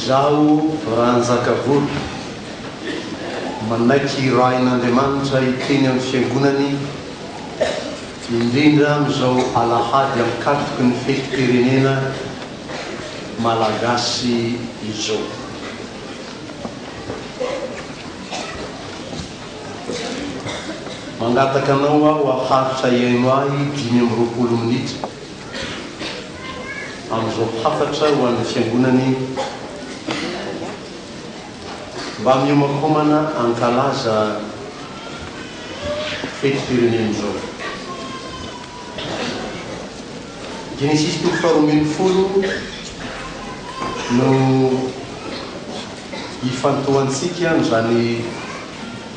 Izaho, Ranjakavola, manaiky hirahin'Andriamanitra hiteny amin'ny Fiangonany, indrindra amin'izao alahady ankatoky ny fetim-pirenena malagasy izao. Mangataka anao aho haharitra hihaino ahy dimy amby roapolo minitra amin'izao hafatra ho an'ny Fiangonana iny. Mba mihomakomana hankalaza fetim-pirenena izao. Genesisy toko faharoa ambin'ny folo no ifantohantsika amin'izany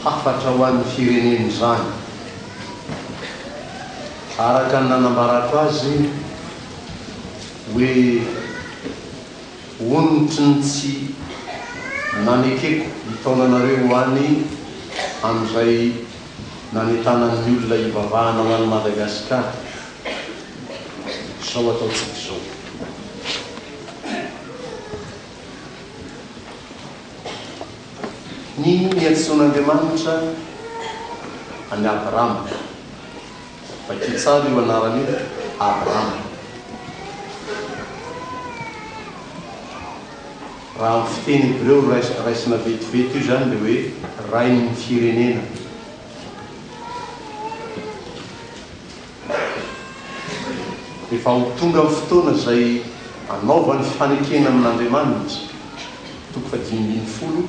hafatra ho an'ny firenena izany. Araka ny nanambarako azy hoe onitry ny tsy nanekeko hitaona anareo ho any amin'izay nanentanan'ny olona hivavahana ho an'i Madagasikara. Izao ataontsika izao. Ny niantsoan'Andriamanitra an'i Abrama, vakio tsara io anarana io, Abrama. Raha amin'ny fiteny hebreo raisina vetivety io izany dia hoe rain'ny firenena. Efa ho tonga ny fotoana izay hanaovany fanekena amin'Andriamanitra, toko fahadimy ambin'ny folo,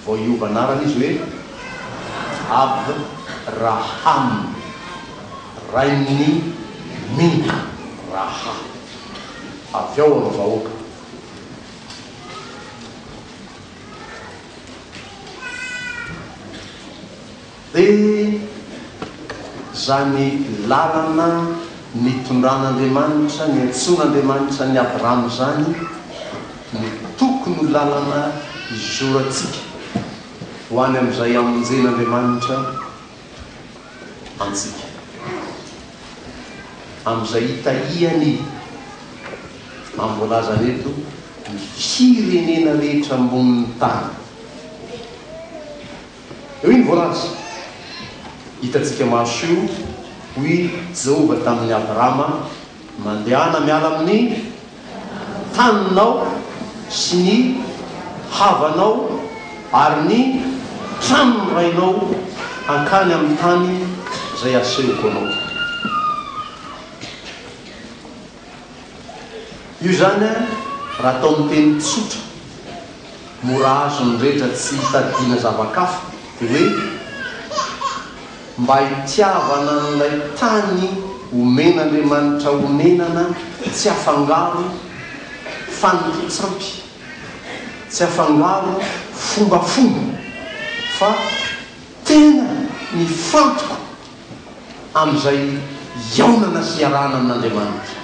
vao hiova anarana izy hoe Abraham, rain'ny mino, raha avy ao amin'ny vahoaka. Dia izany lalana nitondran'Andriamanitra, niantsoan'Andriamanitra an'i Abrahama izany no tokony ho lalana izorantsika ho any amin'izay hamonjen'Andriamanitra antsika, amin'izay hitahiany, amin'ny voalazany eto, ny firenena rehetra ambonin'ny tany. Eo iny voalazako hitantsika maso io, hoy Jehovah tamin'i Abrama, Mandehana miala amin'ny taninao sy ny havanao ary ny tranon'ny rainao hankany amin'ny tany izay asehoko anao. Io izany raha atao amin'ny teny tsotra, mora azon'ny rehetra tsy hitadidiana zava-kafa dia hoe mba hitiavana an'ilay tany omen'Andriamanitra onenana tsy afangaro fanintotsampy, tsy afangaro fombafomba fa tena mifantoko amin'izay hihaonana sy hiarahana amin'Andriamanitra.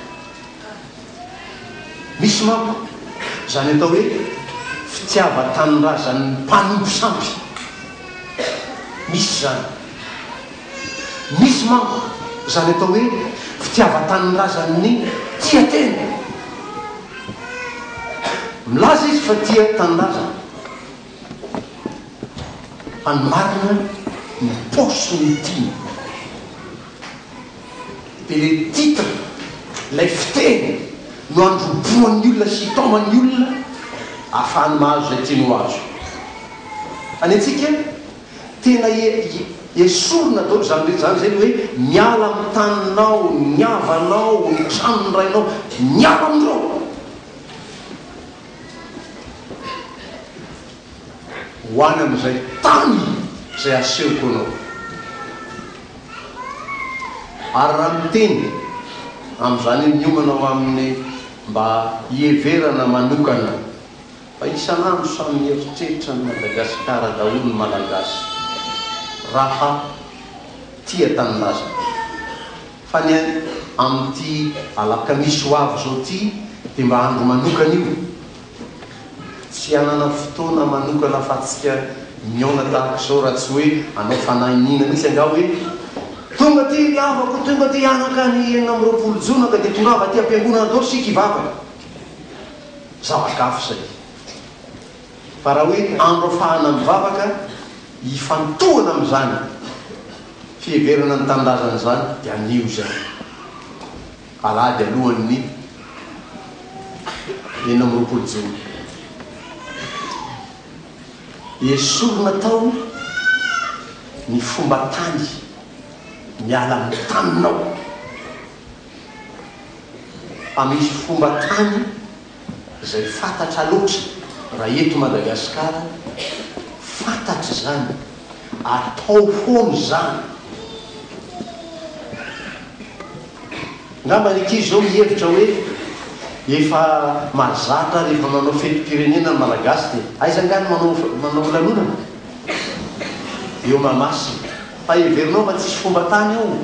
Misy manko izany atao hoe fitiavan-tanindrazan'ny mpanompo sampy. Misy izany. Misy manko izany atao hoe fitiavan-tanindrazan'ny tia tena. Milaza izy fa tia tanindrazana. Fa ny marina ny paosy no tiany. Dia ilay titre, ilay fiteny no androbohan'ny olona sy itaoman'ny olona ahafahany mahazo izay tiany ho azo. Fa ny antsika tena esorina daholo izany rehetra izany izay ny hoe miala amin'ny taninao, ny havanao, ny tranon'ny rainao, miala amin'ireo. ho any amin'izay tany izay asehoko anao. Ary raha miteny amin'izany miomana ho amin'ny mba hiheverana manokana fa isan'andro samy mieritreritra an'i Madagasikara daholo ny Malagasy raha tia tanindrazana. Fa ny any amin'ity alakamisy ho avy izao ity dia mba andro manokana io, tsy hanana fotoana manokana afa-tsika mihaona tahaka izao raha tsy hoe hanao fanahy iniana mihitsy angaha hoe tonga aty ry havako, tonga aty hianaka ny enina amby roapolo jona ka dia tongava aty am-piangonana daholo isika hivavaka. Zava-kafa izay. Fa raha hoe andro afahana mivavaka hifantohana amin'izany fiheverana ny tanindrazana izany dia anio izay, alahady alohan'ny enina amby roapolo jona. Esorina tao ny fomba tany, miala amin'ny taninao. Fa misy fomba tany. izay fantatra loatra raha eto Madagasikara, fantatra izany, atao foana izany. Angamba ny ankizy izao mihevitra hoe efa mahazatra rehefa manao fetim-pirenena ny Malagasy dia aiza angaha ny manao manao lanonana eo Mahamasina? Fa heverinao fa tsisy fomba tany io?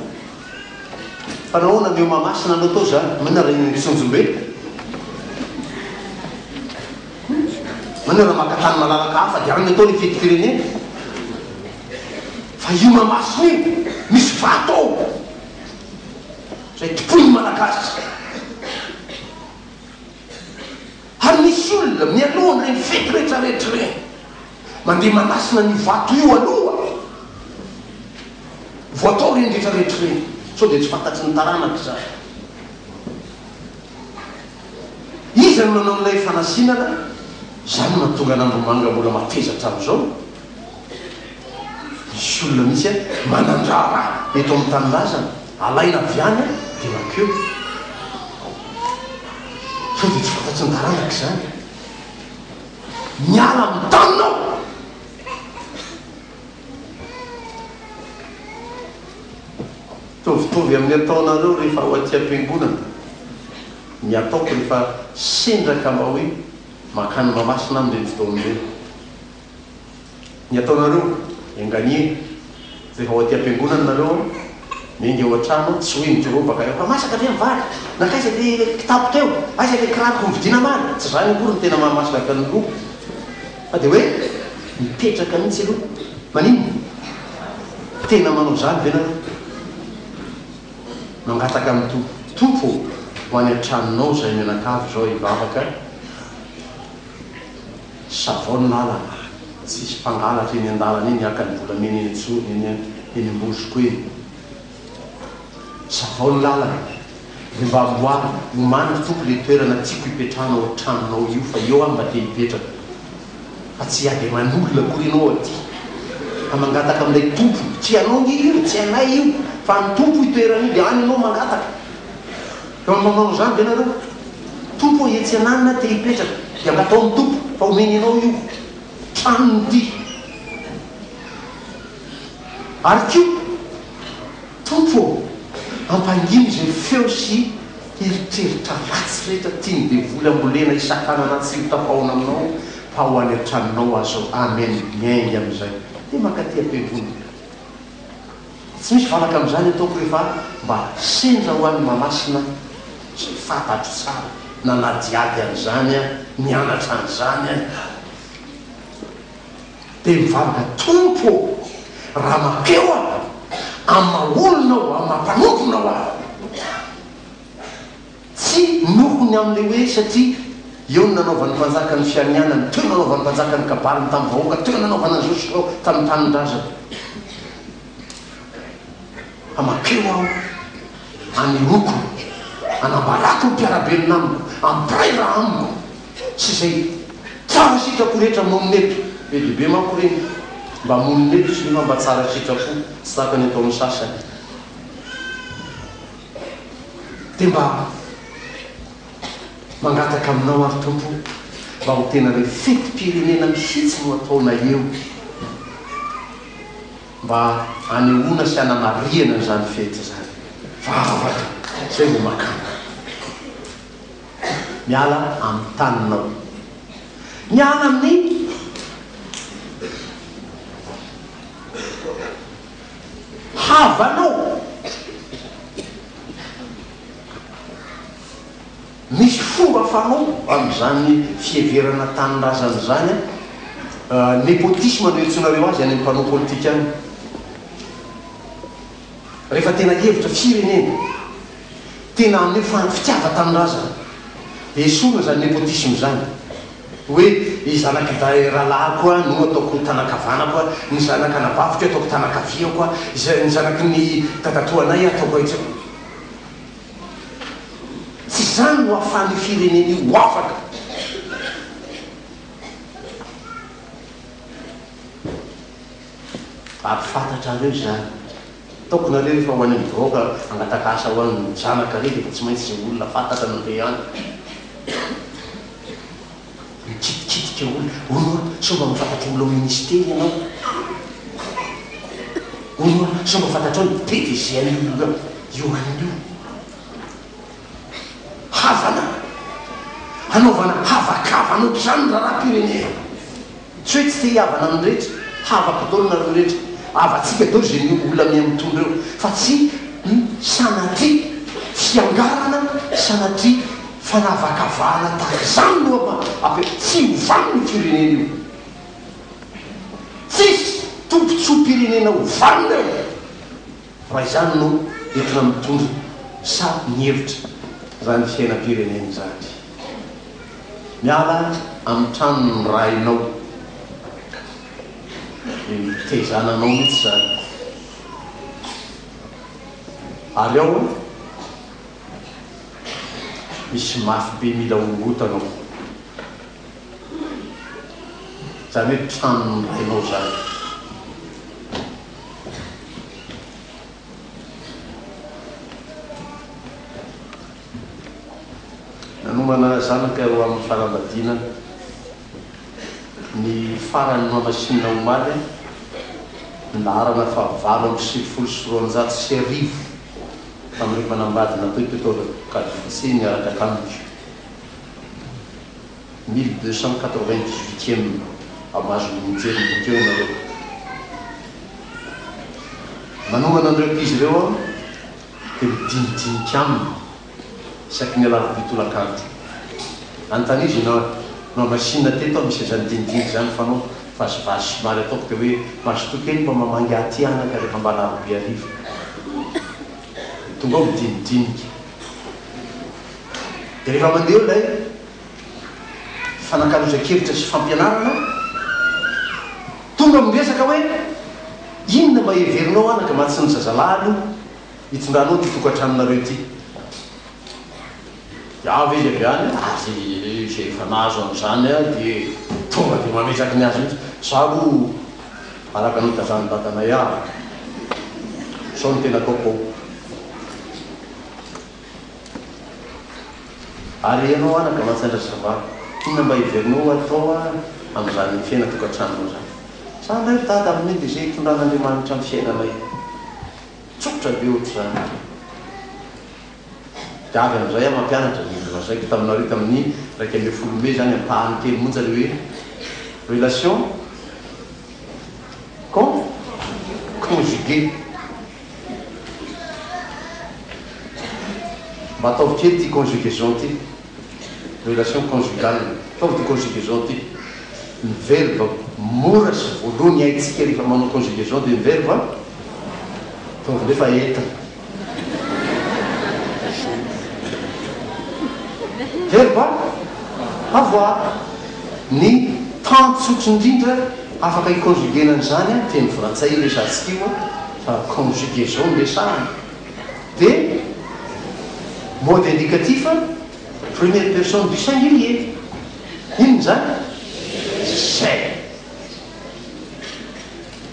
Fa nahoana ny eo Mahamasina no atao izany? Maninona raha eny Antsonjombe? Maninona raha maka tany malalaka hafa dia any atao ny fetim-pirenena? Fa io Mahamasina io misy vato ao izay tompoin'ny Malagasy. Ary misy olona mialoha an'ireny fety rehetrarehetra ireny mandeha manasina an'io vato io aloha vao atao ireny rehetrarehetra ireny sao dia tsy fantatry ny taranaka izany. Iza no nanao an'ilay fanasinana? Izany no mahatonga an'Andromanga mbola mateza hatramin'izao. Misy olona mihitsy manan-draharaha eto amin'ny tanindrazana, alaina avy any dia mankeo. Sao dia tsy fantatry ny taranaka izany? Miala amin'ny taniny aho! Mitovitovy amin'ny ataonareo rehefa ao aty am-piangonana, ny ataoko rehefa sendra ka mba hoe mankany Mahamasina amin'ireny fotoana ireny. Ny ataonareo, enganie, fa efa ao aty am-piangonana nareo an! Miainga eo an-trano an! Tsy hoe midorao baka eo, fa masaka ve ny vary? Nankaiza ilay kitapo teo? Aiza ilay kiraroko novidiana maro? Tsy izany akory ny tena mahamasaka ny fiangonana, fa dia hoe mipetraka mihitsy aloha. Maninona? Tena manao izany ve nareo? Mangataka amin'ny Tompo, Tompo ô, ho any an-tranonao izahay mianakavy izao hivavaka an! Savon ny lalana ah! Tsisy mpangalatra eny andalana eny haka ny volamena eny an-tsorony eny an! Eny am-bozoko eny! Savon ny lalana e! Dia mba amboary, omaniko tompoko le toerana tiako hipetrahana ao tranonao io fa eo aho mba te hipetraka fa tsy hiady aman'olona akory ianao aty ka mangataka amin'ilay tompo, tsy anao nge io, tsy anay io fa an'i tompo io toerana io dia any ianao mangataka. Ka manao izany ve nareo? Tompo ô etsy ananona aho te hipetraka dia mba ataon'ny Tompo fa omeny anao io tranony ity. Ary koa Tompo ô ampangino izay feo sy eritreritra ratsy rehetra tian'ny devoly ambolena hisakanana tsy ho tafahoana aminao fa ho any an-tranonao aza aho. Amen. Miainga amin'izay dia mankaty am-piangonana. Tsy misy valaka amin'izany ataoko hoe fa mba sendra ho an'i Mahamasina izay fantatro tsara, nanadihady an'izany aho, nianatra an'izany aho. Dia mivavaka, Tompo ô! Raha mampeo aho amin'ny maha-olona aho, amin'ny maha-mpanomponao aho, Tsy noho ny amin'ilay hoe satria eo no nanaovan'ny mpanjaka ny fianianany, teo no nanaovan'ny mpanjaka ny kabaliny tamin'ny vahoaka, teo no nanaovana an'i Joshua tamin'ny tanindrazany. Hamakeo aho, hanehoako, hanambarako ny mpiara-belona amiko, hampiray raha amiko sy izay tsara sitrako rehetra monina eto. Be dia be manko ireny mba monina eto sy nefa mba tsara sitrapo, tsy tahaka ny ataon'ny sasany. Dia mba mangataka aminao ary Tompo o, mba ho tena ilay fetim-pirenena mihitsy no ataonay eo, mba hanehoana sy hanamarihana an'izany fety izany. Vavaka izay vao makàna. Miala amin'ny taninao. Miala amin'ny. havanao. Misy fomba fanao amin'izany fiheverana tanindrazana izany, nepotisme no iantsoanareo azy any amin'ny mpanao politika any, rehefa tena hevitra firenena, tena haneho fitiavan-tanindrazana, dia esorina izany nepotisme izany. Hoe ny zanak'i Daheralahako aho no ataoko ny tanan-kavanako aho, ny zanak'anabaviko ataoko tanan-kaviako aho, izay ny zanaky ny dadatoanay aho ataoko aitsy aho. Tsy izany no ahafahan'io firenena io ho afaka. Ary fantatrareo izany. Ataoko nareo efa ho any amin'ny vahoaka hangataka asa ho an'ny zanaka re dia efa tsy maintsy izay olona fantatra no te any mikitikitika olona hono a sao mba mahafantatra olona ao ministera ianao hono a sao mba fantatrao ny be dia zay an'io olona io an'io havana, hanaovana havakavana ohatr'izany ny raharaham-pirenena. Tsy hoe tsy te hihavana amin'ny rehetra, havako daholo nareo rehetra, havantsika daholo izay miombo olona miha mitondra eo, fa tsy sanatria fiangarana, sanatria fanavakavahana tahaka izany no ampianarina. Tsy ho vanona io firenena io. Tsisy tombotsoam-pirenena ho vanona eo. Fa izany no entina mitondra sa ny hevitra raha ny fiainam-pirenena izany. Miala amin'ny tranon'ny rainao. Dia mitezana anao mihitsy izany. Ary ao an, misy mafy be mila horohotana ao. Izany hoe tranon'ny tenor izany. Nanomana zanaka ho amin'ny fanambadiana ny faran'ny noix machine omaly ny laharana fahavalo amby sivifolo sy roanjato sy arivo tamin'ireo mpanambady natao teto Kalifatsy niaraka tamiko. mille deux cent quatre vingt dix huitième am azony mijery ny boky eo ianareo manomana an'ireo ankizy ireo aho dia midinidinika aminy isaky ny alarobia tolakandro anontaniana izy na nohamasinina teto aho misy izany dinidinika izany fanao vazivazy somary ataoko dia hoe mazotoa kely mba mamangy aty anaka rehefa mba alarobia hariva dia tonga ao midinidinika Dia rehefa mandeha eo ilay fifanankalozan-kevitra sy fampianarana, tonga miresaka hoe, inona mba heverinao anaka mba tsy ny zazalahy aloha hitondranao ity tokantranonareo ity? Dia avy izy avy any, ary izay efa nahazo an'izany dia tonga dia mametraky ny azy mihitsy, za aloha Araka ny nitazan'ny dadanay avy sao ny tena coco. Ary ianao anaka mantsandra ça va? Inona mba heverinao ho atao amin'izany fiaina tokantranonao izany? Za indray ry dada amin'ny dia izay hitondran'Andriamanitra ny fiainanay. Tsotra be ohatr'izany. Gaga indray aho mampianatra dia nolazaiko taminareo tamin'ny iraika ambin'ny folo mey izany ampahany kely monja ilay hoe relation con conjugué. Mba ataovy kely ity conjugaison ity, relation conjugale, ataovy ity conjugaison ity, ny verba mora sy voaloha ny haintsika rehefa manao conjugaison dia ny verba ataovy nefa enta. Very va? Au revoir. Ny temps tsotra indrindra afaka hi-conjuguer-na an'izany an, teny frantsay io resahantsika io an, fa conjugaison no resahana. Dia mode indicatif première personne du singulier. Inona izany? Izay.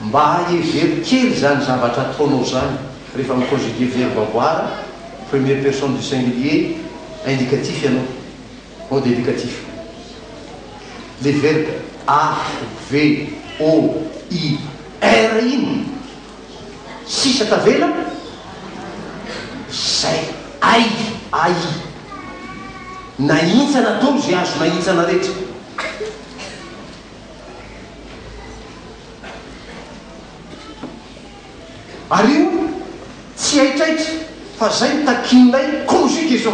Mba hevero kely izany zavatra ataonao izany rehefa mi-conjuguer verbe avoir, première personne du singulier indicatif ianao, mode indicatif. Le verbe a, v, o, i, r iny sisa tavela, izay, ai, ai. Nahintsana daholo izay azo nahintsana rehetra. Ary io tsy haitraitra fa zay no takian'ilay conjugue zao.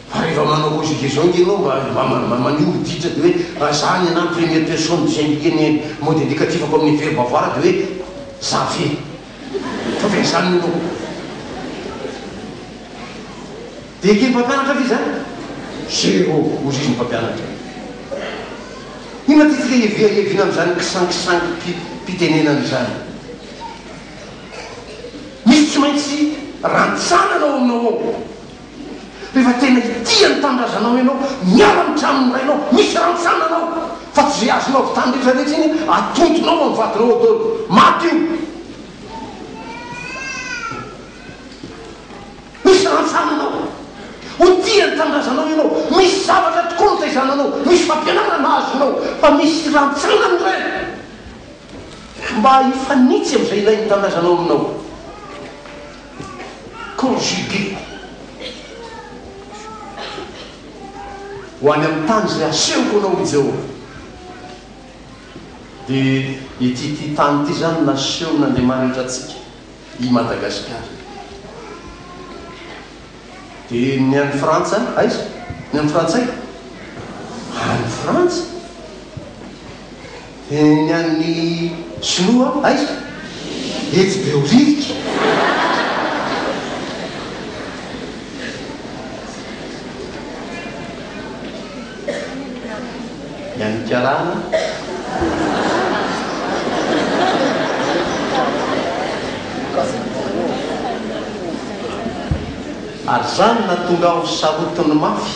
Fa rehefa manao conjugue zao nge ianao mba mba maneho ho ditra dia hoe raha za ny anah ny première personne du singulier ny mode indicatif-ko amin'ny verbe avoir dia hoe za ve. Fa ve izany no loha? Dia eken'ny mpampianatra ve izany? Zéro, hozy izy ny mpampianatra. Inona ity fiheviaheviana amin'izany kisankisangim-pitenenana izany? Misy tsy maintsy rantsana anao aminao ao. Rehefa tena hitia ny tanindrazanao ianao, miala amin'ny tranon'ny rainao, misy rantsana anao, fa tsy izay azonao avy tany rehetra rehetra iny atontonao amin'ny vadinao ao daholo. Maty io. Misy rantsana anao. Ho tia ny tanindrazanao ianao. Misy zavatra tokoa notaizana anao. Misy fampianarana azonao. Fa misy rantsana ny ray. Mba hifanitsy amin'izay ilain'ny tanindrazanao aminao. conjugué ho any amin'ny tany izay asehoko anao, hoy Jehovah. Dia ity ity tany ity izany no nasehon'Andriamanitra antsika, i Madagasikara. Dia ny any Frantsa, aiza ny an'ny Frantsay? Any Frantsa. Dia ny an'ny sinoa aiza? Etsy Behoririka. Ny an'ny karana? Ary izany nahatonga aho sarotiny mafy.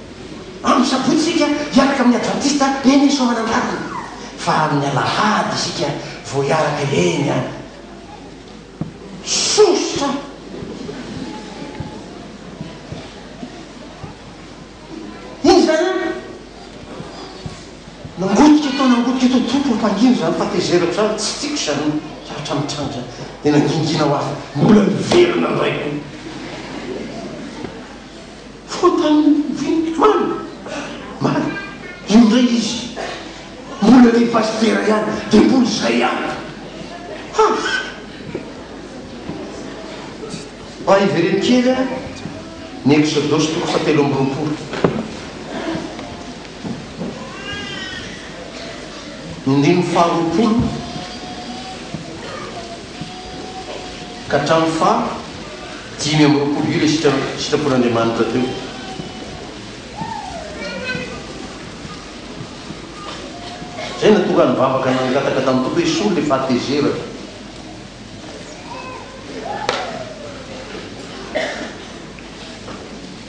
Amin'ny sabotsy isika hiaraka amin'ny advantista eny ny soamanandrariny fa amin'ny alahady isika vao hiaraka eny an sosotra. Inona izany an? Nangotika eto nangotika eto tompony mpangina izany fahatezerako izany tsy tiako izany lahatra mitranga izany dia nangingina ho avy mbola niverina indray koa. Fotony ve ny mpitohana? Marina. Io indray izy mbola ny pasitera ihany dia mbola izay ihany. Hafa. Mba hivereno kely aho ny Eksodosy toko fahatelo amby roapolo. Ny ndininy faharoapolo ka hatramin'ny faha. Dimy amby roapolo ilay sitrapon'Andriamanitra teo. Izay nahatonga ny vavaka nangataka tamin'ny Tompo hoe Esory ilay fahatezerana.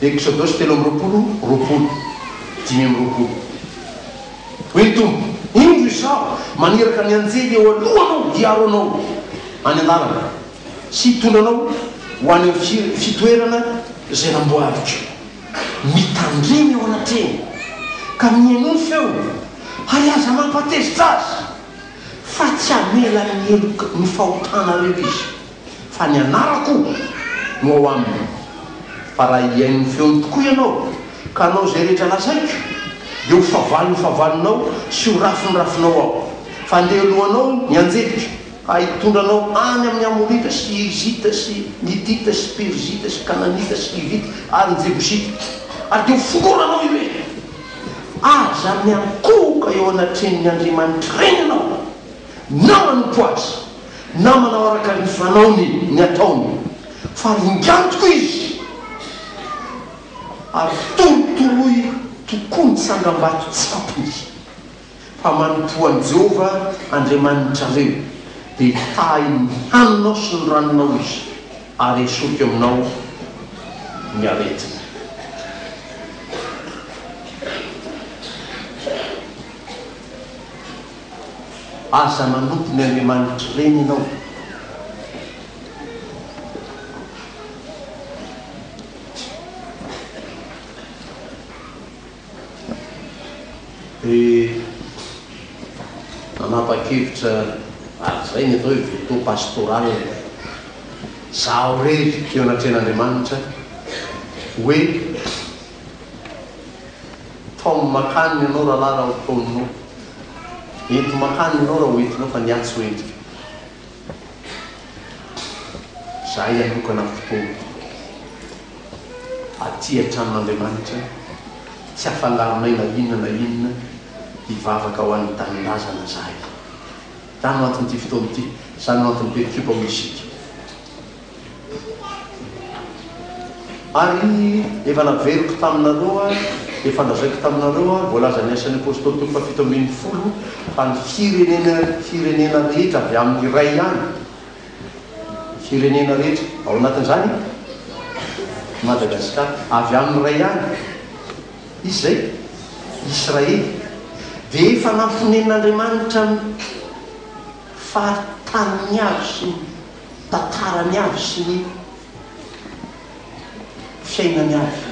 Eksodosy telo amby roapolo, roapolo, dimy amby roapolo. Hoy ny Tompo, Indro Izaho maniraka ny anjely eo alohanao hiaro anao any an-dalana. sy hitondra anao ho any amin'ny fitoerana izay namboariko. Mitandrema eo anatrehany, ka mihainoa ny feony, ary aza mampatezitra azy, fa tsy hamela ny heloka ny fahotanareo izy, fa ny anarako no ao aminy. Fa raha hihaino ny feony tokoa ianao, ka hanao izay rehetra lazaiko, dia ho favaliny favalonao sy ho rafiny rafinao aho, fa handeha alohanao ny anjeliko. Ahy hitondra anao any amin' ny Amorita sy Hirizita sy Mitita sy Perizita sy Kananita sy Hivita ary ny Jebosita, ary dia hofororanao ireny. Aza miankohoka eo anatrehan' ny andriamanitr'ireny ianao, na manompo azy, na manao araka ny fanaony ny ataony, fa ringantiko izy, ary torotoroy tokoa ny tsangambato tsapony. fa manompoa an'i Jehovah Andriamanitrareo, dia hitahy ny haninao sy ny ranonao izy, ary hesorika aminao ny aretiny. Aza manompo ny andriamanitry ireny ianao. Dia nanapa-kevitra araka izay ny atao hoe veto pastoral ilay izaho irery teo anatrehan'Andriamanitra hoe, Taomy mankany ny anao rahalahy raha ho taominao, ento mankany ny anao raha ho entinao fa ny ahy tsy ho entiko. Izahay hanokana fotoana. aty an-tranon' Andriamanitra, tsy afalarinay na inona na inona hivavaka ho an'ny tanindrazana izahay. Izany no anton'ity fotoana ity, izany no anton'ny Perikiopa hoy isika. Ary efa naveriko taminareo aho, efa nolazaiko taminareo aho, voalazan'ny Asan'ny Apôstôly toko fahafito ambin'ny folo, fa ny firenena firenena rehetra avy amin'ny iray ihany, firenena rehetra, ao anatin'izany i Madagasikara. Avy amin'ny iray ihany izy izay, Israely. Dia efa namponen'Andriamanitra amin'ny faritaniny avy sy ny tantarany avy sy ny fiainany avy.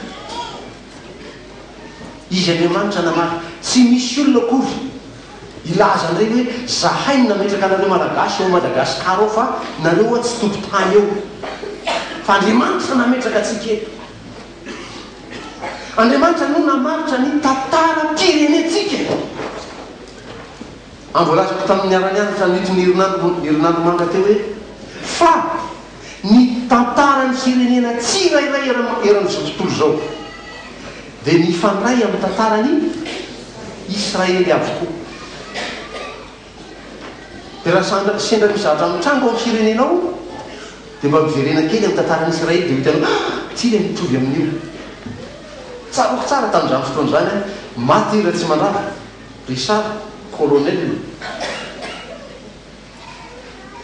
Izy Andriamanitra namaly. Tsy misy olona akory hilaza an'ireny hoe zahay no nametraka anareo Malagasy ao Madagascar ao fa nareo oa tsy tompo tany eo. Fa Andriamanitra no nametraka antsika eto. Andriamanitra no namaritra ny tantaram-pirenentsika. Amboalazako tamin'ny niara-nianatra nitony herinandro herinandro manga teo hoe fa. ny tantaran'ny firenena tsirairay eran'izao tontolo izao dia mifandray amin'ny tantaran'i Israely avokoa. Dia raha sendra misy zavatra mitranga ao amin'ny firenenao dia mba miverena kely amin'ny tantaran'i Israely dia ho hitanao, ah! Ity ilay mitovy amin'io. Tsaroako tsara tamin'izany fotoana izany an, maty Ratsimandrava, Richard, colonel.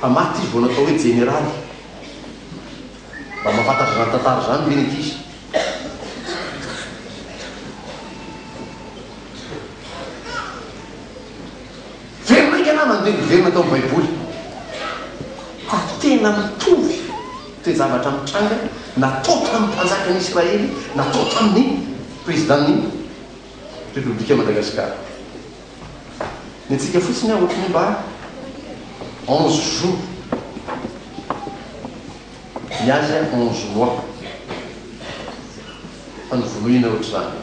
Fa maty izy vao natao hoe jeneraly. Mba mahafantatra izany tantara izany ve ny ankizy? Very maika namana dia niverina tao amin'ny Baiboly fa tena mitovy toe-javatra mitranga natao tamin'ny mpanjakan'ny Israely natao tamin'ny prezidàn'i. Repoblika Madagasikara. Ny antsika fotsiny aho ohatry ny hoe mba onze jours, ny azy an onze mois fa novonoina ohatry izany.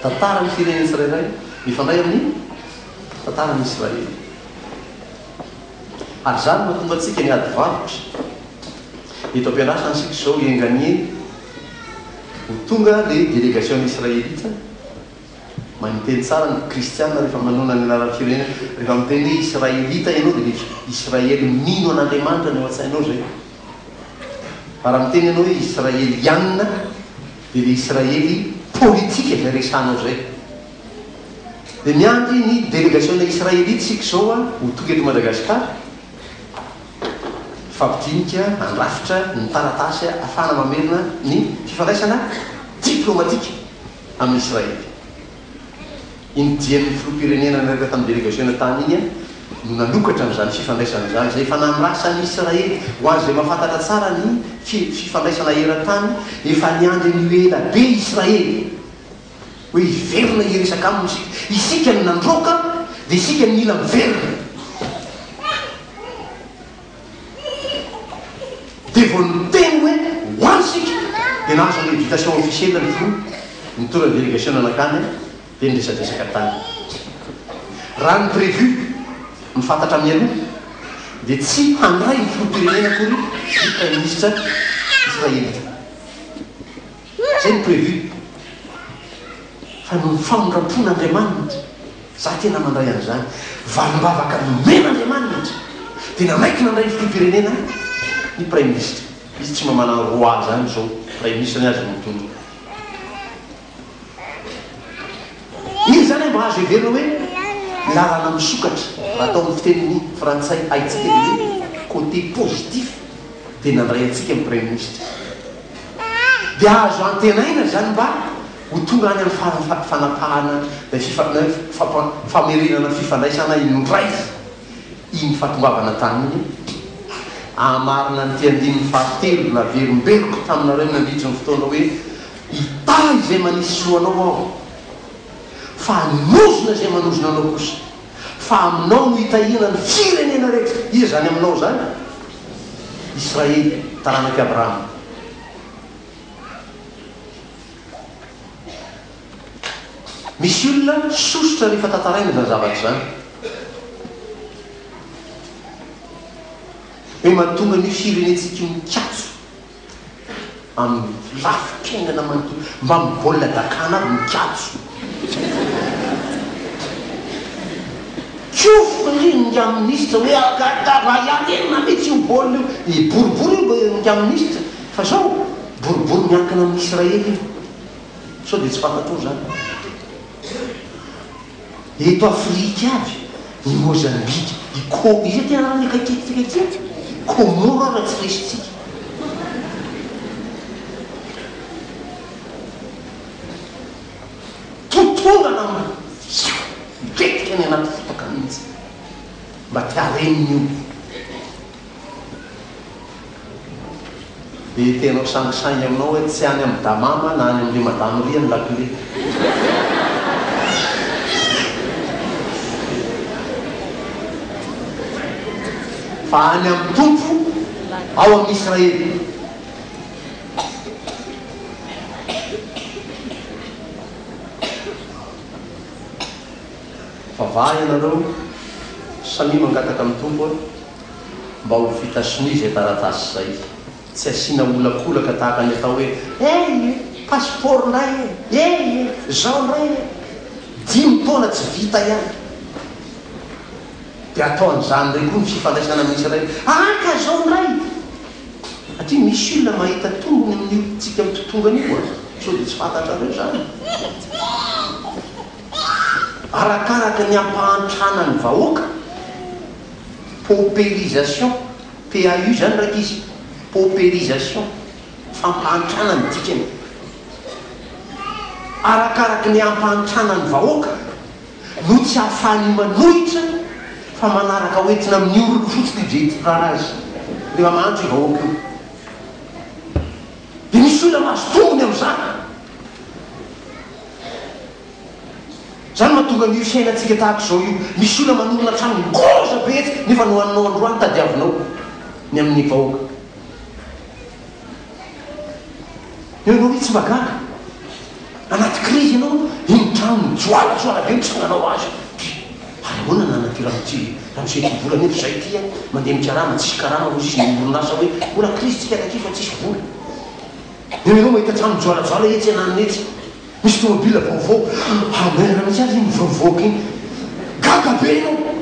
Tantaran'ny firenena tsirairay mifandray amin'ny tantaran'i Israely. Ary izany no mahatonga antsika ny ady varotra. Eto am-piandrasana isika izao, enga anie, Ho tonga ilay delegasion'ny Israelita, maninteny tsara ny kristiana rehefa manonona ny anaran'ny firenena. Rehefa miteny hoe Israelita ianao dia misy Israely mino an'Andriamanitra ny ao an-tsainao izay. Fa raha miteny ianao hoe Israeliana dia ilay Israely politika izay resahanao izay. Dia miandry ny delegasiona Israelita isika izao ho tonga eto Madagasikara. Mifampidinika, mandrafitra ny taratasy ahafahana mamerina ny fifandraisana diplaomatika amin'i Israely. Iny dian'ny filoham-pirenena niaraka tamin'ny delegasiona tany iny no nanokatra an'izany fifandraisana izany, izay efa nandrasan'i Israely. Ho an'izay mahafantatra tsara ny fifandraisana eran-tany, efa niandry an'io ela be Israely. hoe hiverina hiresaka aminy isika. Isika no nandroaka dia isika no mila miverina. Dia vao niteny hoe ho any isika dia nahazo an'ilay invitation officielle ny filoha, nitondra ny délégation nankany dia niresadresaka tany. Raha ny prévu, ny fantatra mialoha, dia tsy handray ny filoham-pirenena akory ny Praiminisitra Israelita. Zay ny prévu. Fa noho ny famindram-pon' Andriamanitra, za tena mandray an'izany valim-bavaka nomen' Andriamanitra, dia nanaiky nandray ny filoham-pirenena ahy ny praiminisitra. Izy tsy mba manana roi zany zao, praiminisitra ny azy mitono. Izy zany mba azo heverina hoe lalana misokatra, raha atao amin'ny fiteny frantsay haintsika dia hoe côté positif dia nandray antsika ny praiminisitra. dia azo antenaina izany mba ho tonga any amin'ny faran'ny fa fanapahana ilay fifa na hoe fampa famerenana fifandraisana indray iny fahatongavana tany iny e! Hahamarina an'ity andininy fahatelo naverimberiko taminareo nandritry ny fotoana hoe, Hitahy izay manisy soa anao aho, fa hanozona izay manozona anao kosa. fa aminao no hitahiana ny firenena rehetra. Iza izany aminao izany? Israely, taranak'i Abrahama. Misy olona sosotra rehefa tantaraina izany zavatra izany. Hoe mahatonga an'io firenentsika io mikatso. amin'ny lafy fiainana manontolo mba mivolona dakana aby ny kajy. Tsoa fo anie ny nga minisitra hoe agadra raha hiarenina mitsy io baolina io, i boribory io ny nga minisitra fa zao boribory miankina amin'ny Israely io sao dia tsy fantatrao zany. Eto Afrika avy i Mozambika, i Ko, iza ty anarany akaikitsika ty an? Komoro ara tsy resintsika. Totongana amin'izao, mipetraka any anaty fotaka mihitsy mba te hareny ny olona. Dia tenao sangisangy aminao hoe tsy any amin'i Damama na any amin'i Madame Ria ny lakile. Fa any amin'ny Tompo ao amin'i Israely. Mivavaha ianareo samia mangataka amin'ny Tompo a, mba ho vita sonia izay taratasy izay, tsy asiana olakolaka tahaka ny atao hoe, eh e! passeport ndray e! eh e! zao ndray e! dimy taona tsy vita ihany dia atao an'izany indray koa ny fifandraisana amin'ny Israely, aka zao ndray! satria misy olona mahita tombony amin'io tsika mitotongana io a! sao dia tsy fantatrareo izany. Arakaraka ny ampahantrana ny vahoaka, paupérisation, PAU zany rankizy, paupérisation, fampahantrana ny dikany. Arakaraka ny ampahantrana ny vahoaka no tsy ahafahany manohitra fa manaraka ho entina amin'ny orony fotsiny io dia hitondrana azy rehefa mahantra io vahoaka io. Dia misy olona mahazo tombony amin'izany. Izany mahatonga an'io fiainantsika tahaka izao io. Misy olona manorina trano ngeza be etsy nefa ny ho aninao androany tadiavinao ny amin'ny vahoaka. Eo ianao hoe tsy mba gaga. Anaty krizy ianao, iny ny trano mijoalajoala be mitsanganao azy. Ary ahoana ny anan'ity ramose ity? Ramose ity vola nefa izahay ity a, mandeha mikarama, tsisy karama hoy izy sy ny orinasa hoe mbola krizy tsika taty fa tsisy vola. Ianareo mahita trano mijoalajoala etsy ananana etsy, misy tomobila vaovao, ary mailana mihitsy aza iny mivoavoaka iny. Gaga be ianao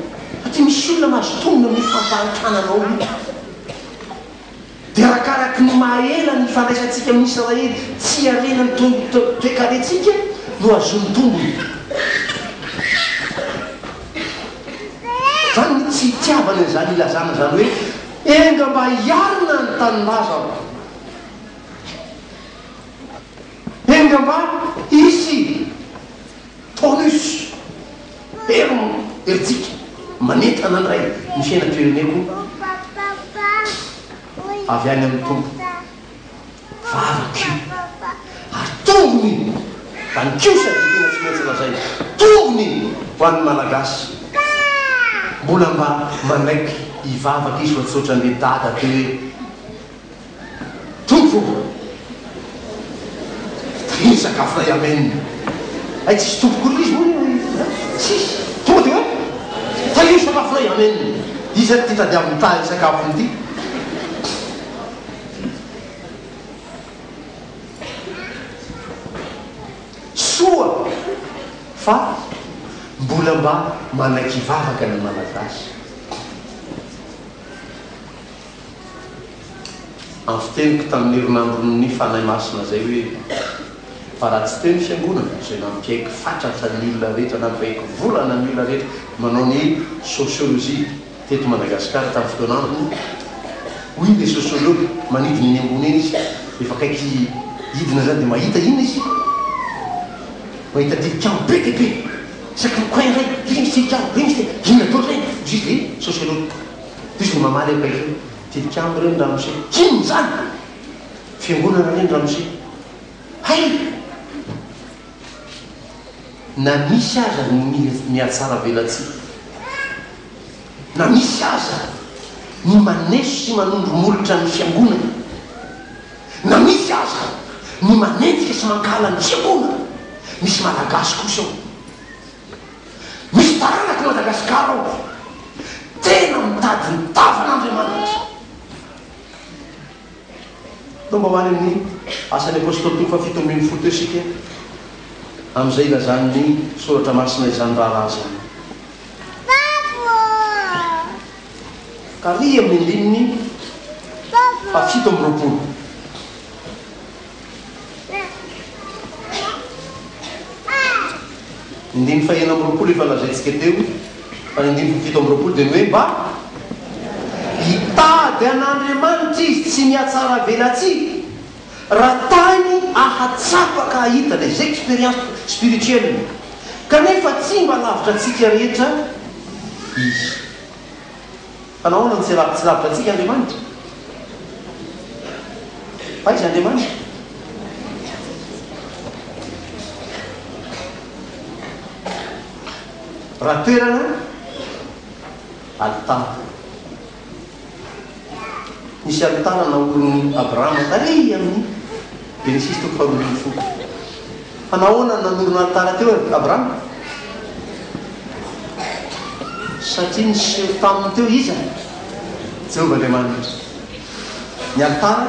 satria misy olona mahazo tombony amin'io fampahantrana anao io. Dia arakaraky ny maha ela ny ifandraisantsika amin'ny Israely tsy harena ny toe-karentsika no hahazoany tombony. Izany ny tsy hitiavany an'izany ilazana izany hoe enga mba hiarina ny tanindrazako. Eny ambany hisy tonus herim herintsika manentana indray ny fiainam-pireneko avy any amin'ny Tompo vavako io ary tombony ho an'ny kiosy dia tena tsy maintsy lazaina tombony ho an'ny Malagasy mbola mba manaiky hivavaka izy fa tsy ohatran'ilay dada teo hoe Tompo ô! Ity sakafo iray amen. Hay tsisy tompo akory ilay izy moa io e! Tsisy! Tonga dia hoe, Tahio ny sakafo iray amen. Iza ary ity tadiaviny hitaha ity sakafony ity? Soa fa mbola mba manaiky vavaka ny Malagasy. Andro teniko tamin'ny herinandron'ny Fanahy Masina izay hoe, Fa raha tsy teo ny Fiangonana izay nampiaiky fatratra ny olona rehetra, nampiaiky volana ny olona rehetra manao ny sociologie teto Madagasikara tamin'ny fotoana antony, hoy ilay sociologue, manidina eny ambony eny izy, efa akaiky hidina izany, dia mahita inona izy? Mahita tilikambo be dia be, isaky ny coin iray, ry misy tilikambo, ry misy tilikambo, inona daholo izay? hoy izy ilay sociologue. Diso ny mamaly ankehitriny. Tilikambo re ny ramose. Inona izany? Fiangonana re ny ramose. Hay! Na misy aza ny mihatsaravelatsihy, na misy aza ny maneso sy manondro molotra ny Fiangonana, na misy aza ny manenjika sy mankahala ny Fiangonana, misy Malagasy kosa ao. Misy taranak'i Madagasikara ao tena mitady ny tavan'Andriamanitra. Tomba ho any amin'ny Asan'ny Apôstôly toko fahafito ambin'ny folo teo isika amin'izay ilazan'ny Soratra Masina izany raharaha izany. Taria amin'ny andininy fahafito amby roapolo. Ny andininy fahenina amby roapolo efa lazaintsika teo, fa ny andininy fahafito amby roapolo dia ny hoe mba hitady an'Andriamanitra izy tsy mihatsaravelatsihy, raha tany ahatsapa ka hahita les expériences spirituelles, kanefa tsy mba lavitra antsika rehetra izy. Fa nahoana no tsy tsy lavitra antsika Andriamanitra? Fa aiza Andriamanitra? Raha toerana alitara. Nisy alitara naorin'i Abrahama tary amin'ny Genesisy toko faharoa ambin'ny folo. Fa nahoana no nanorina alitara teo Abrahama? Satria niseho taminy teo iza? Jehovah Andriamanitra. Ny alitara,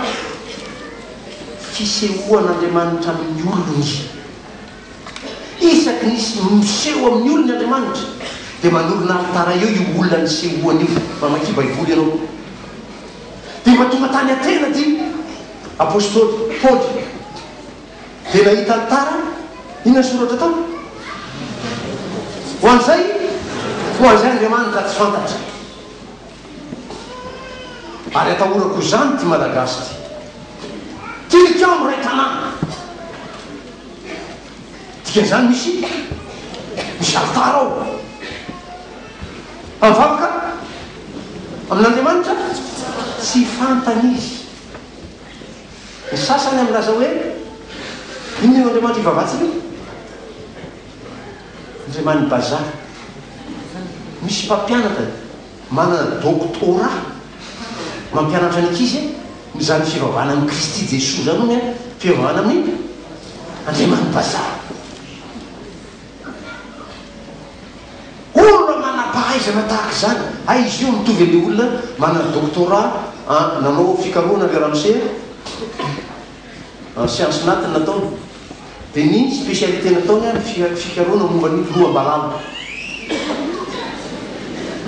fisehoan'Andriamanitra amin'ny olony. Isaky ny miseho amin'ny olony Andriamanitra, dia manorina alitara eo io olona nisehoany io. Mamakia Baiboly ianao, dia mahatonga tany Atena ity apostoly Paoly. Dia nahita ny tariny. Inona ny soratra tao? Ho an'izay, ho an'izay Andriamanitra tsy fantatra. Ary atahorako izany ity Malagasy ity. Tilikambo iray tanàna. Dikan'izany misy, misy alitara ao. Fa mivavaka amin'Andriamanitra tsy fantany izy. Ny sasany milaza hoe, Inona io andriamanitra ivavahantsika io? Andriaman'ny bazary. Misy mpampianatra manana doctorat mampianatra ny ankizy hoe, Izany fivavahana amin'i Kristy Jesoa izany hono fivavahana amin'ny andriaman'ny bazary. Olona manam-pahaizana tahaka izany, hay izy io mitovy an'ilay olona manana doctorat an nanao fikarohana avy Ramsey an, an siansa natiny nataony, dia ny specialité nataony an ny fikarohana momba ny loham-balala.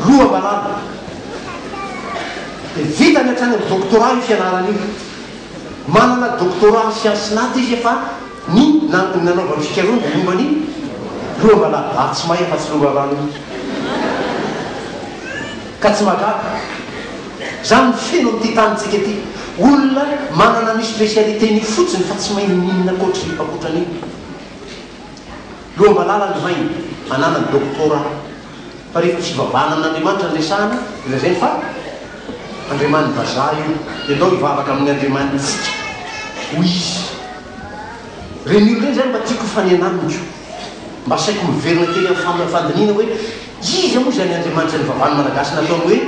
Loham-balala. Dia vitany hatrany amin'ny doctorat io fianarana io. Manana doctorat siansa nat izy fa. Ny nanaovany fikarohana dia momba ny loham-balahy, ary tsy mahay afa-tsy lova rano iny. Ka tsy mahagaga. Izany no feno amin'ity tanintsika ity. Olona manana an'io spécialité-n'io fotsiny fa tsy mahay n'inon'inona ankoatry ankoatran'io. Loham-balahy lalandro maina, ananany, doctorat. Fa ry fivavahana an'Andriamanitra no resahana dia lazainy fa andriaman'ny vazaha io dia andao hivavaka amin'ny andriamanitsika hoy izy. Ireny olona ireny izany mba tiako hifanena amiko, mba asaiko miverina kely amin'ny fandinihina hoe iza moa izany andriamanitra nivavahan'ny malagasy nataony hoe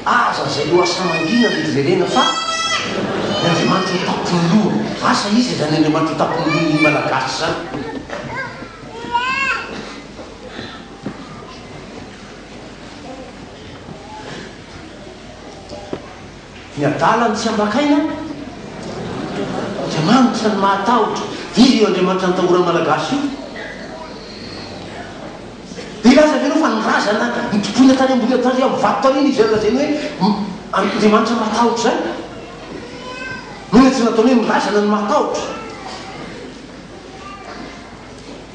aza azaleo asamangina mety jerena fa ny andriamanitra ho tapon'ny loha, asa iza izany andriamanitra ho tapon'ny lohan'ny malagasy izany? Ny adala no tsy ambakaina dia magnitra ny mahatahotra. Iza io Andriamanitra nitahora ny Malagasy io? Dia hilaza avy enao fa ny razana nitompoina tany ambony tany amin'ny vato tany iny izay lazainy hoe Andriamanitra mahatahotra izany? Moa ilay tsy nataony hoe ny razana no mahatahotra?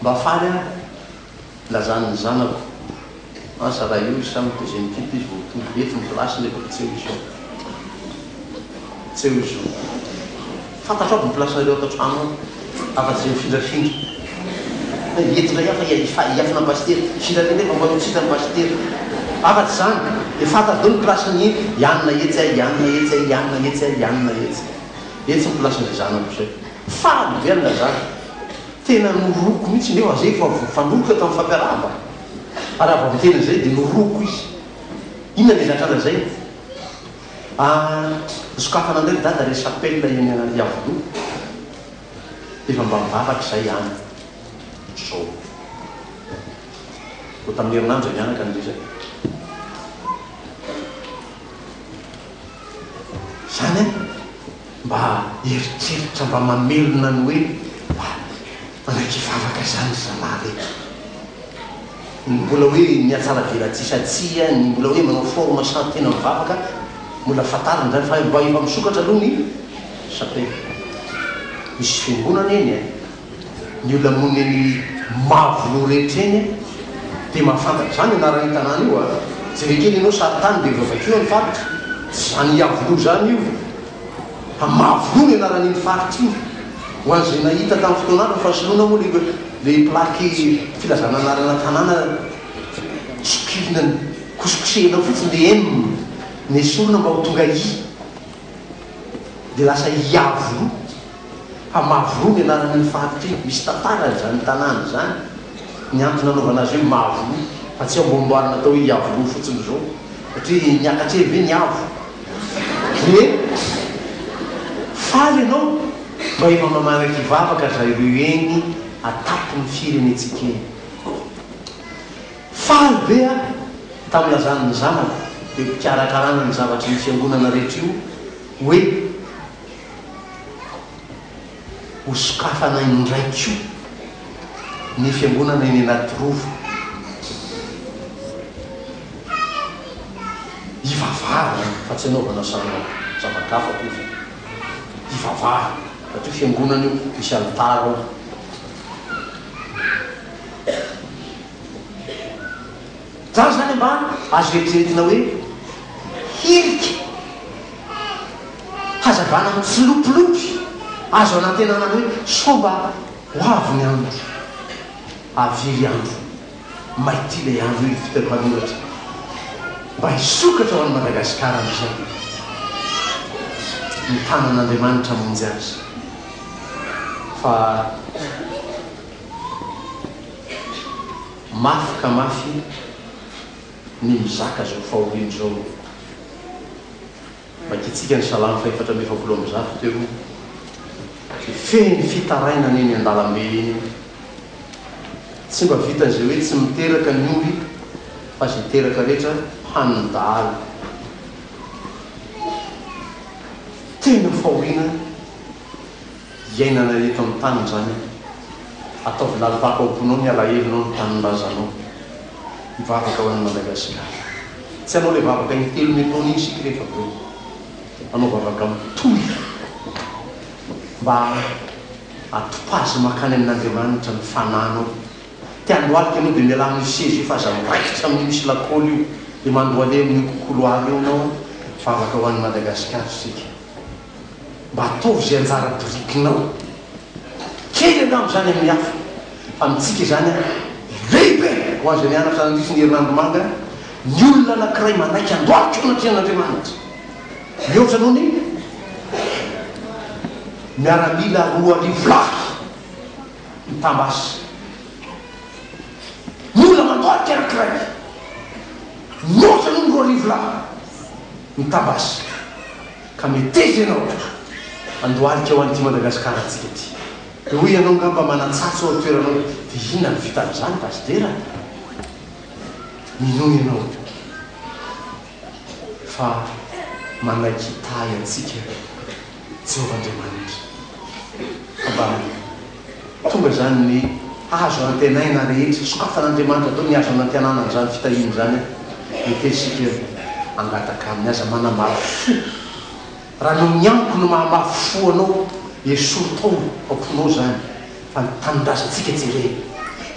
Mba faly aho ilazan'ny zanako asa raha io isan ny deuxième type izy vao tonga eto ny place nefa efa tsy eo izy fa tsy eo izy zao fantatro aby ny place nareo ato an-trano ao afa tsy zay mifindrafindra fa eto indray aho fa hiafina an'i pasitera hifindra any anefa mba ho tsy hitan'i pasitera afa tsy zany dia fantatro daholo ny place ny hianona etsy hianona etsy hianona etsy hianona etsy. Etsy ny place-n'izay zanako izay. Faly be an'ilay zanako. Tena norohiko mihitsy nefa izay efa voafanoroka tamin'ny fampiaraham-bana. Ary avy amin'ny tena izay dia norohiko izy. Inona ilay zatra lazainy? Ah, nosokafana indray ry dada ilay chapelle eny Iavoloha. Dia efa mba mivavaka izahay ihany izao. Vao tamin'ny herinandro izay mianaka ny resaka. Izany an, mba eritreritra mba mamelona ny hoe mba manaiky hivavaka izany ry zalahy ve? Ny mbola hoe miatsaravelatsihy sa tsia, ny mbola hoe manao forme sa tena mivavaka, mbola fantarina izany fa mba efa misokatra aloha ny chapelle. Misy fiangonana eny e! Ny olona monina eny Mavoloha rehetra eny dia mahafantatra izany anaran'io tanàna io a! Jereo kely ianao sarintany dia voavakio ny faritra. Tsy izany Iavoloha izany io fa Mavoloha ny anaran'iny faritra iny. Ho an'izay nahita tamin'ny fotoana hafa fa soloina moa ilay plaque filazana anarana tanàna sokirina kosokosehina fotsiny dia M no esorina mba ho tonga I dia lasa Iavoloha. Hamavoa ny anaran'iny faritra iny, misy tantarany izany tanàna izany, ny antony nanaovana azy hoe Mahavoa fa tsy ambohimboarina atao hoe Iavoloha fotsiny izao satria niakatra eo ve ny avo? Dia faly ianao mba efa mamanak'i vavaka zah ireo eny atapon'ny firenentsika eny. Faly be aho tamin'ny lazan'ny zanako eo am-pikarakarana ny zavatr'io fiangonana rehetra io hoe. ho sokafana indray koa ny fiangonana eny Anatirova. Hivavahana fa tsy hanaovana salon zava-kafa akory fa hivavahana fa ity fiangonana io misy alitara ao. Zany zany mba azo eritreretina hoe hirika hazavana mitsilopilopy azo anantenana ny hoe sao mba ho avy ny andro, avily andro, maity ilay andro hoy ny fiteny mpanoratra. Mba hisokatra ho an'i Madagasikara amin'izao ny tanan'Andriamanitra hamonjy azy fa. Mafy ka mafy ny mizaka zao fahoriany zao o! Makitsika ny Salamo fahefatra amby efapolo amby zato teo o! Dia fehiny fitarainana eny andalambe eny o! Tsy mba vitan'izay hoe tsy miteraka ny omby fa izay teraka rehetra hanin'ny dahalo. Tena fahoriana. iainana eto amin'ny tany izany e! ataovy lalim-pako ao am-ponao ny alahelonao, ny tanindrazanao, mivavaka ho an'i Madagasikara, tsy hanao ilay vavaka intelo mety taona iny isika rehefa avy eo, hanao vavaka mitohy mba hatopazy mankany amin'Andriamanitra ny fanahinao, te handohalika ianao dia mialà amin'io seza io fa aza miraikitra amin'io misy lakôly io dia mandohale amin'io kouloir io ianao an! vavaka ho an'i Madagasikara isika. mba ataovy izay anjara birikinao, kely angamba izany amin'ny hafa, fa amintsika izany lehibe, ho an'izay nianatra nandritra ny herinandro manga, ny olona anankiray manaiky handohalika eo anatrehan'Andriamanitra, mihoatra noho ny miaramila roa arivo lahy mitam-basy, ny olona mandohalika anankiray mihoatra noho ny roa arivo lahy mitam-basy. Ka meteza ianao ka! Andohalika ho an'ity Madagasikara antsika ity. Dia hoy ianao ngamba manan-tsatso ao an-toeranao dia inona no vita amin'izany basy dera a! Minoa ianao fa manaiky hitahy antsika Jehovah Andriamanitra. Abam. Tonga izany ny azo antenaina rehetra sokafan'Andriamanitra atao, ny azo anantenana an'izany fitahiana izany ekentsika hangataka Aminy. Aza manamafy fo. Raha ny ao amin'ny amiko no mahamafy fo anao, esory tao am-ponao izany fa ny tanindrazantsika jerena.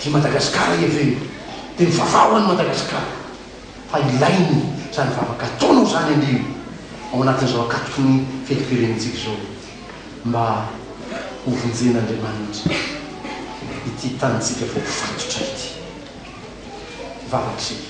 I Madagasikara iha ve no dia mivavaha ho an'i Madagasikara? Fa ilaina izany vavaka ataonao izany anio ao anatin'izao akatoky ny fetim-pirenentsika izao. mba hovonjen'Andriamanitra ity tanintsika voafatotra ity. Vavaka isika.